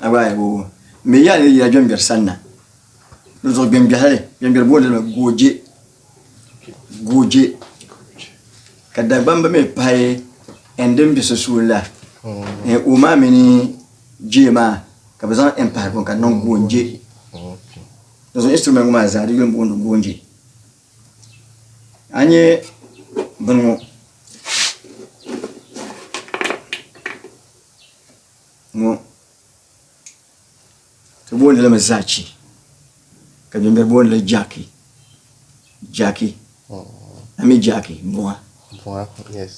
A gba ayibu o mi ya ni yila gbɛngbɛri sanna di zuɣu gbɛngbɛhili gbɛngbɛri booni li gooje gooje ka dagbamba mi pahi ɛn din bɛ sunsuuni la ɛn o maa mini jee maa ka bi zaŋ ɛn pahi ka niŋ goonje di zuɣu instrument ŋɔ maa zaa di yuli booni goonje a nyɛ bini ŋɔ ŋɔ ti booni li mi zachi ka bimbe booni li jaki jaki ami jaki buŋa buŋa yes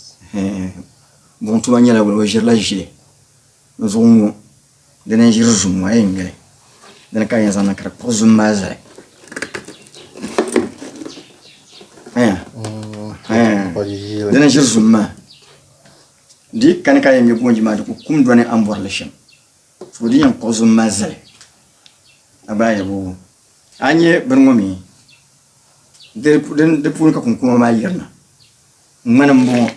buŋ tuma nyɛla wala o ʒirila ʒili n zuɣu ŋɔ dini n ʒiri zum ŋɔ a yɛn nyɛli dini ka yɛn zaŋ niŋ ka di kpuɣi zum maa zali dini n ʒiri zum maa Di yi kani ka yɛn nya goonji maa di ku kum do ni a ni bɔri li shɛm. Foo di yɛn kpuɣi zuŋ mali zali a gbaai yɛbu. A nya bini ŋɔ mi, di puuni ka kunkuma maa yirina. Ŋmani m-bɔŋɔ,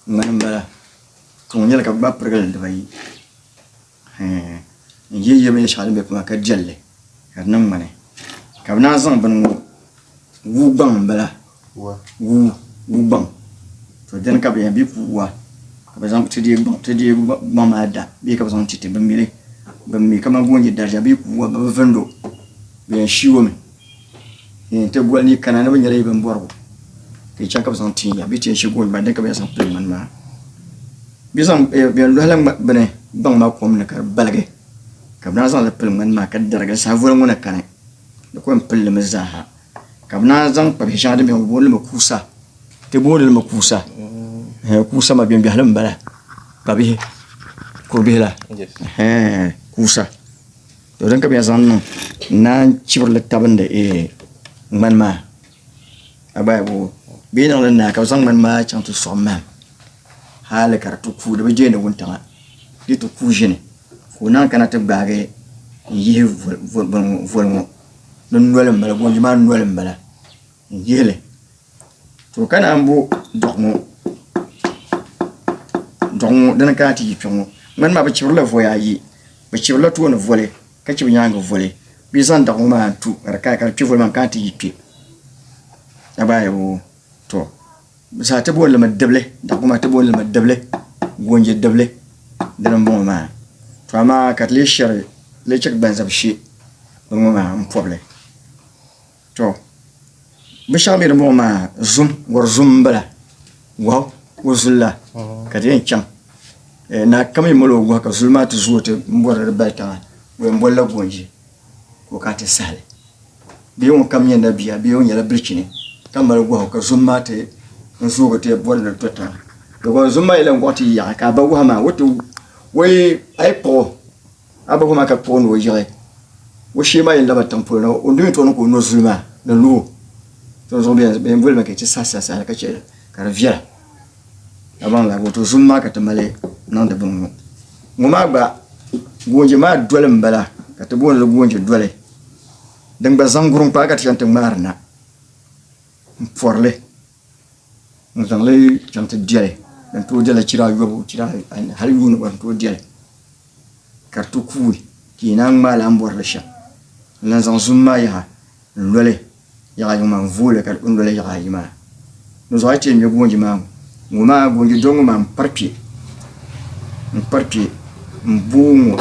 ŋmani m-bala. Tuŋ nyɛli ka bɛ gbaai pirigili dibayi. N yi yɛ mini shɛŋa din be kpaŋa ka jɛl li ka di niŋ ŋmani ka bɛ naan zaŋ bini ŋɔ wuu gbaŋ m-bala wuu wuu gbaŋ to dini ka bɛ yɛn bɛ puhi waa ka bɛ zaŋ ti deei gbaŋ ti deei gbaŋ maa da bee ka bɛ zaŋ ti ti bɛ mili bɛ mi kamani ka o nyɛ darija bee puhi waa bɛ bi vindi o bɛ yɛn shii o mi. Ni ti boli ni kana ni bi nyɛla yi bin bɔrigu ka chɛŋ ka bi zaŋ tinya bi tiɛ shɛli gooni maa din ka bi zaŋ pili ŋmani maa bi zaŋ bɛn lohala bini gbaŋ maa kom ni ka di baligi ka bi naan zaŋli pili ŋmani maa ka darigi saha voli ŋɔ na kani di ku yɛn pilli mi zaaha ka bi naan zaŋ kpa bihi shɛŋa din bɛ bi booni limi kuusa ti booni limi kuusa kuusa maa bɛn biɛhili n bala kpa bihi kuri bihi la kuusa To din ka bɛ zaŋ niŋ naan chibirili tabindi ee ŋmani maa agbaya boo bɛ niŋ li naa ka bɛ zaŋ ŋmani maa chaŋ ti sɔɣi mahim hali ka di ti kuui di bi jeeni wuntaŋa di ti kuui ʒini ka o naan kana ti gbaagi n yihi voli ŋɔ di noli m-bala goonji maa noli m-bala n yihili to ka naan bo dɔɣu ŋɔ dɔɣu ŋɔ dini ka ti yi kpɛ ŋɔ ŋmani maa bi chibirila voya ayi bi chibirila tooni voli ka chibi nyaangi voli bɛ yi zaŋ dɔɣu ŋɔ maa n tu ka di kaya ka di kpɛ voli maa n kana ti yi kpɛ ka baa yɛbo to zaa ti booni limi dibili dɔɣu ŋɔ maa ti booni limi dibili goonje dibili dini n bɔŋɔ maa to amaa ka ti lee shɛri lee chɛ ka gbanzabi she bini ŋɔ maa n pobili to bin shɛŋa bɛ ni bɔŋɔ maa zum wari zum n bala wahu o zuli la ka di yɛn chaŋ naa kam yɛn mali o wahu ka zuli maa ti zuo ti n bɔri di bali tiŋa o yɛn bɔlila goonji ka o kana ti sahali bee ŋun kam nyɛ nabiya bee o nyɛla bilichini ka mali wahu ka zum maa ti n zuugi ti bɔri ni to tiŋa dama zum maa yɛla n gɔɣi ti yaɣa ka a ba wahu maa o ti o yi a yi kpuɣi o A bahi o maa ka kpuɣi ni o yiɣi o shee maa yɛn laba tiŋ polo na, o ndoyin tɔɣini ka o no zuli maa ni lu o. Tɔn zuɣu bɛ yɛn boli ma ka yi ti sahi sahi sahi ka chɛ ka di viɛla. Dabaŋ laa wato zum maa ka ti mali niŋdi bini ŋɔ. Ŋɔ maa gba goonje maa doli m-bala ka ti booni li goonje doli. Din gba zaŋ gurim kpaa ka ti chani ti ŋmaari na m-pɔri li. N zaŋ li chaŋ ti deli, din tooi deli chira ayobu, chira anu, hal yuun gba n tooi deli, ka di ti kuui, ka yi naan ŋmaai lan bɔri li shɛm. N lan zaŋ zom maa yaha n-loli yaɣa yiŋ maa, n-vooi li ka di kpi n-loli yaɣa ayi maa. Dinzuɣu a yi ti yɛn ŋme goonji maa ŋɔ, ŋɔ maa, goonji dɔŋ ŋɔ maa, m-pari kpe, m-pari kpe m-bo ŋɔ,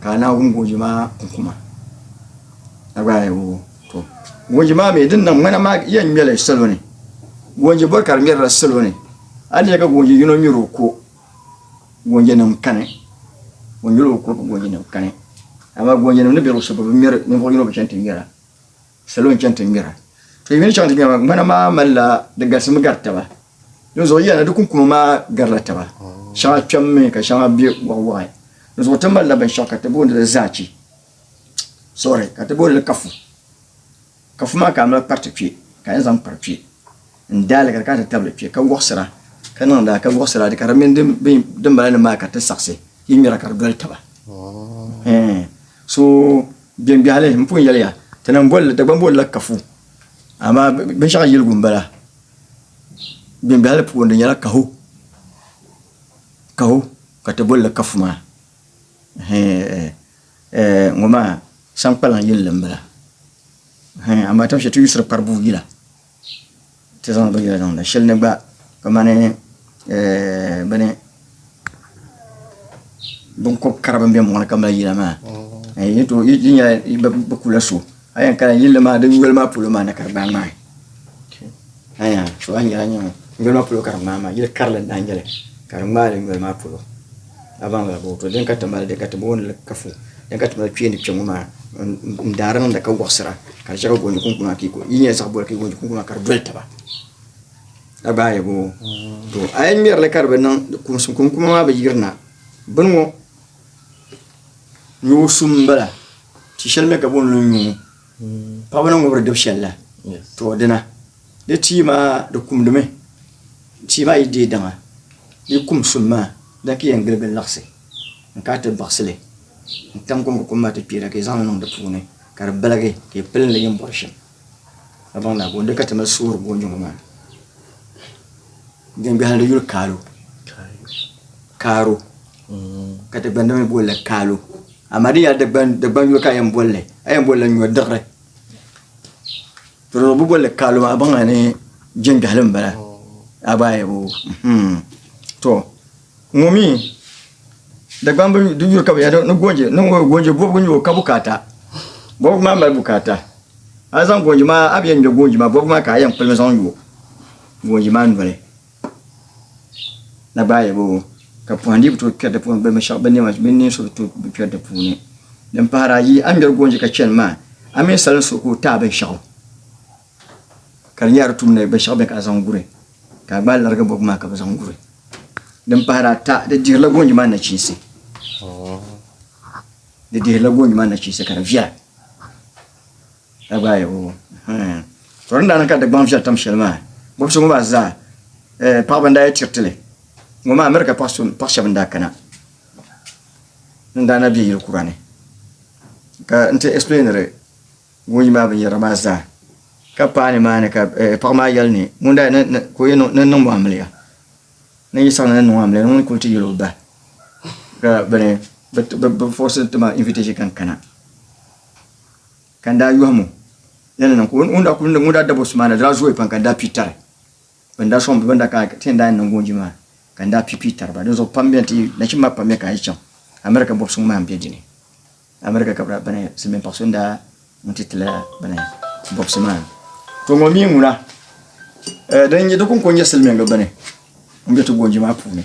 ka a Naawuni goonji maa kuŋ kuma. A gba a yi woo. To gonji maa mi din niŋ ŋmana maa yɛn ŋmɛli salo ni gonji bɔri ka di ŋmɛrila salo ni a ni ka gonji yino ŋmɛri o ko gonji nim kani o ŋmɛri o ko ka gonji nim kani amaa gonji nim ni bɛ luɣushɛli bi ŋmɛri ninvuɣu yino bi chɛni ti ŋmɛra salo n chɛni ti ŋmɛra to yimini chaŋ ti ŋmɛra ŋmana maa malila di galisimi gari taba di zuɣu yɛna di kunkuma maa garila taba shɛŋa kpɛmmi ka shɛŋa bɛ waɣa waɣa di zuɣu ti malila binshaɣu ka ti booni li zaachi sorry ka ti booni kafu kafu maa ka a mali kpariti kpɛ ka a yɛn zaŋ kpari kpɛ n daali ka di kana ti tabili kpɛ ka wɔɣisira ka niŋda ka wɔɣisira ka di mini din bala nim maa ka ti saɣisi yi ŋmɛra ka di doli taba so biɛngbɛhili n pun yɛliya ti niŋ bolli dagban bollila kafu amaa binshaɣu yiligu n bala biɛngbɛhili puuni di nyɛla kahu kahu ka ti bolli kafu maa Eh, ŋɔ maa sankpaliŋ yinli m-bala. Hɛn, amaa tin shɛli ti yusiri kparibuu yila ti zaŋ binyɛra zaŋ niŋ shɛli ni gba kamani eh, bini, binkɔb kara bɛn be mɔɣu ni ka mali yila maa, eh, yi ni tooi, yi nyɛla bɛ kula so. a yɛn kana yilli maa di yoli maa polo maa na ka di gbaa ŋmaai aya so a nyɛla nyɛŋo yoli maa polo ka di ŋmaa maa yili karili n daa nyɛli ka di ŋmaa li yoli maa polo a baŋ la booto din ka ti mali din ka ti booni kafu din ka ti mali kpeeni kpɛŋo maa n daari niŋda ka wɔɣisira ka di chɛ ka goonji kunkun maa ka yi nyɛ zaɣ boli ka goonji kunkun maa ka di doli taba a gbaa yɛ boo to a yɛn ŋmɛrili ka di bi niŋ kumsi kunkuma maa bi yirina bini ŋo nyuɣu sum n bala ti shɛli mi ka booni nyuɣu paɣaba ni ŋubiri dibu shɛli la to dina di tia maa di kumdimi tia maa yi deei daŋa di kum sum maa di lahi yɛn giligi liɣisi n kana ti baɣasili n tam kom ka kom maa ti kpeera ka yi zaŋli niŋ di puuni ka di baligi ka yi pili li yini bɔri shɛm ka baŋ lala booni ka ti mali soori booi nyuɣu maa Din gahim di yuli kaalo, kaaro, ka Dagbani mi boli li kaalo. Amaa din yɛli Dagbani yuli ka a yɛn boli li, a yɛn boli li nyɔdiɣiri. Tɔrɔlɔbo boli li kaalo maa, a baŋla ni jin gahili m-bala. A gba yɛbo. To, ŋɔ mi, Dagbani di yuli ka bɛ yɛli ni goonje, ni goonje bɔbigu n-nyɛ o ka bukaata. Bɔbigu maa mali bukaata. A zaŋ goonje maa, a bi yɛn ŋme goonje maa, bɔbigu maa ka a yɛn kpulimi zaŋ yo. Boo yi maa noli na gbaai ba o, ka pɔhindi yi bi tooi kpɛri di puuni bɛ binshɛɣu bɛ nɛma mini ninsuɣu bi tooi kpɛri di puuni. Din pahir a yi a ni ŋmɛri goonji ka chani maa, a mini salin suɣu ka o ti a binshɛɣu, ka di nyɛ a di tum ni binshɛɣu bɛ ka a zaŋ guri, ka a gbaai larigi bɔbigu maa ka bɛ zaŋ guri. Din pahir a ta, di dihirila goonji maa nachiinsi. Di dihirila goonji maa nachiinsi ka di viɛla. Dagbaai o. To din daa niŋ ka Dagbaŋ viɛri tam shɛli maa, bɔbisi ŋɔ maa zaa paɣiba n-daa yi tiriti li ŋɔ maa America paɣ shɛba n-daa kana n-daa na be yili kura ni ka n-ti explainiri ŋun yi maa binyɛra maa zaa ka paai nimaani ka paɣa maa yɛli ni ŋun daa yɛn ka o yɛn niŋ niŋm o amiliya ni yi saɣina ni niŋ o amiliya ni ŋun kuli ti yɛl o bahi ka bɛ ni bɛ forisi ti ma invitation ka n kana. Ka n daa yɔhim o ni ni niŋ ka o ŋun daa kuli ŋun daa dab o so maa na daa zooyi pam ka n daa pii tari bɛ ni daa sɔŋ bɛ ni daa kana ka ti yɛn daa yɛn niŋ goonji maa ka n daa pii pii tari ba dinzuɣu pam bɛn ti nachimba maa pam mi ka a yi chaŋ America bɔbisi ŋɔ maa m-be di ni America ka bɛ daa bini silimiin paɣ so n daa ŋun ti ti la bini bɔbisi maa to ŋɔ mi ŋuna di kɔŋko n-nyɛ silimiiŋga bini m-be ti goonji maa puuni.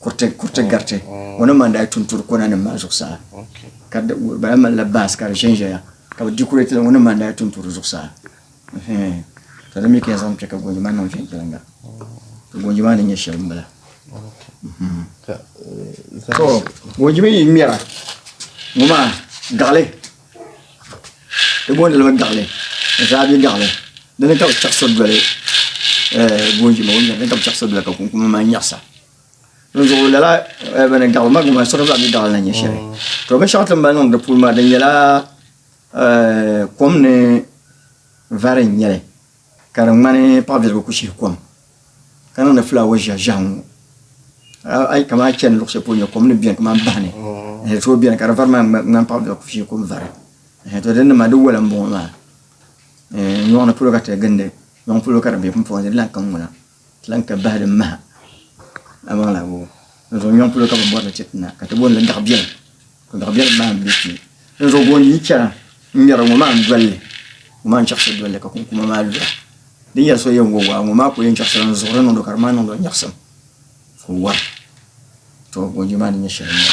kuriti kuriti mm, gariti mm. o ni man daa tunturi kona nim maa zuɣusaa ka bala malila baas ka di ʒɛnʒɛya ka bi dikurɛti la o ni man daa tunturi zuɣusaa ka di mi ka yɛn zaŋ kpɛ ka gonjo maa niŋ viɛnyɛliŋga ka gonjo maa ni nyɛ shɛli n bala so gonjo mi yi ŋmɛra ŋɔ maa gaɣali Di booni li mi gaɣili, zaabi gaɣili dini ka bi chaɣisiri doli goonji maa o nyari li ka bi chaɣisiri doli ka kunkuni maa nyaɣisa. Di zuɣu lala bini gaɣili ma gba siɣiri zaa bɛ gaɣili na nyɛ shɛli. To binshɛɣu ti ni mali niŋdi di puuni maa di nyɛla kom ni vari n nyɛli. Ka di ŋmani paɣibiligu ku shihi kom, ka niŋdi fulaawa ʒiɛhi ʒiɛhi ŋɔ. A yi kam a chani luɣ shɛli polo nya kom ni beni kamani bahi ni, ɛɛh, di tooi beni, ka di vari maa ŋmani paɣibiligu ku shihi kom vari. Ɛɛh, tɔ dinni maa, di wola m-bɔŋɔ maa. Ɛɛh, nyɔɣu ni polo ka ti gindi, nyɔŋ polo ka di be pumpɔŋɔ ni di lahi kaŋ ŋuna. Lan ka bahi din maha amaŋla wubu. Dinzuɣu nyɔŋ polo ka bɛ bɔri li chɛ ti na, ka ti booni li daɣ biɛlim. Ka daɣ biɛlim maa m-be kpe. Dinzuɣu gooni yi chana n-ŋmɛri ŋɔ maa n-doli li, ŋɔ maa n-chaɣisiri doli li ka kunkuma maa lura. Di ni yɛli so yɛn wo waa, ŋɔ maa ku yɛn chaɣisira n-zuɣu di niŋdi o ka di maa niŋdi o nyaɣisim ka o wara. Tɔ! Gooni maa ni nyɛ shɛli n-nyɛ.